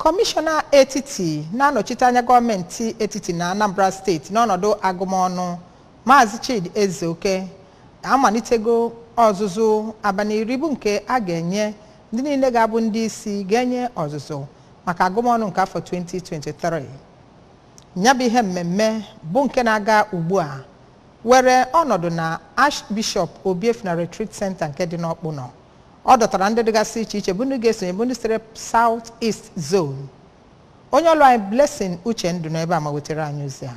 kọmishọna etiti na-anọchite anya gọọmenti etiti na anambra steeti n'ọnọdụ agụmọnụ maazị chidi ezeoke amalitego ọzụzụ abalị iri bụ nke a ga-enye ndị niile ga-abụ ndị isi ga-enye ọzụzụ maka agụmọnụ nke afọ 2023 nya bụ ihe mmemme bụ nke na-aga ugbu a were ọnọdụ na archbishop obiefuna retreat center nke dị n'ọkpụnọ ọ dọtara ndị dịgasị iche iche bụ ndị ga-esonye bụ ndị sitere South East Zone onye ọlụ anyị Blessing Uchendụ nọ ebe a ma wetara anyị ozi a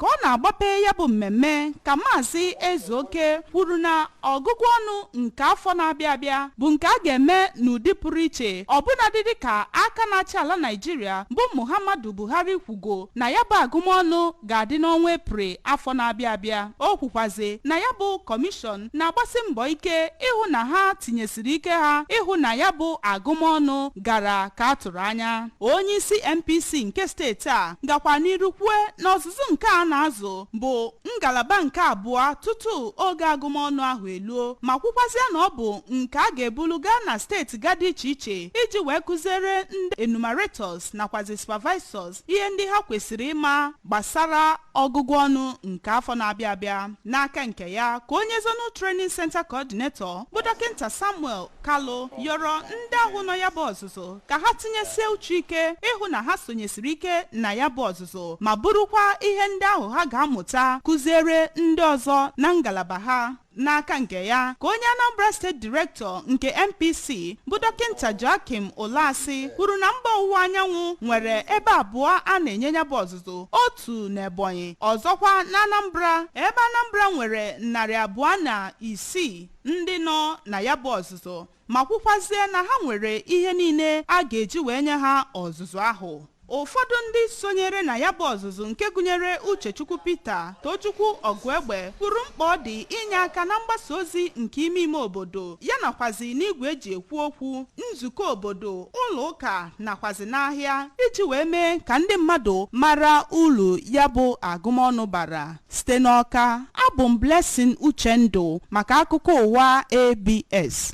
ka ọ na-agbape ya bụ mmemme ka maazị ezeoke kwuru na ọgụgụ ọnụ nke afọ na-abịa abịa bụ nke a ga-eme n'ụdị pụrụ iche ọbụnadị dịka aka na-achị ala naịjirịa bụ muhammadu buhari kwugo na ya bụ agụmọnụ ga-adị n'ọnwa Eprel afọ na-abịa abịa. O kwukwazi na ya bụ kọmishọn na-agbasi mbọ ike ịhụ na ha tinyesiri ike ha ịhụ na ya bụ agụmọnụ gara ka a tụrụ anya. Onye isi NPC nke steeti a gakwara n'iru kwue na ọzụzụ nke a na-azụ bụ ngalaba nke abụọ tutu oge agụmọnụ ahụ eluo ma kwukwazịa na ọ bụ nke a ga-ebulu gaa na steeti ga dị iche iche iji wee kụziere ndị enumerators nakwazi supervisors ihe ndị ha kwesịrị ịma gbasara ọgụgụ ọnụ nke afọ na-abịa abịa n'aka nke ya ka onye zonal training center coordinator bụ dọkịnta samuel kalu yọrọ ndị ahụ nọ ya bụ ọzụzụ ka ha tinyesie uchu ike ịhụ na ha sonyesiri ike na ya bụ ọzụzụ ma burukwa ihe ndị ahụ ha ga-amụta kụziere ndị ọzọ na ngalaba ha N'aka nke ya ka onye Anambra steeti direktọ nke NPC bụ dọkịnta Joachim Ụlasị kwuru na mba ọwụwa anyanwụ nwere ebe abụọ a na-enye ya bụ ọzụzụ otu n'Ebonyi ọzọkwa na Anambra ebe Anambra nwere narị abụọ na isii ndị nọ na ya bụ ọzụzụ ma kwukwazie na ha nwere ihe niile a ga-eji wee nye ha ọzụzụ ahụ ụfọdụ ndị sonyere na ya bụ ọzụzụ nke gụnyere Uchechukwu Peter Tochukwu Ọgụegbe kwuru mkpa ọ dị inye aka na mgbasa ozi nke ime ime obodo ya nakwazi n'igwe e ji ekwu okwu nzukọ obodo ụlọ ụka nakwazi n'ahịa iji wee mee ka ndị mmadụ mara uru ya bụ agụmọnụ bara Site n'Ọka, abụ m Blessing Uchendụ maka akụkọ ụwa ABS.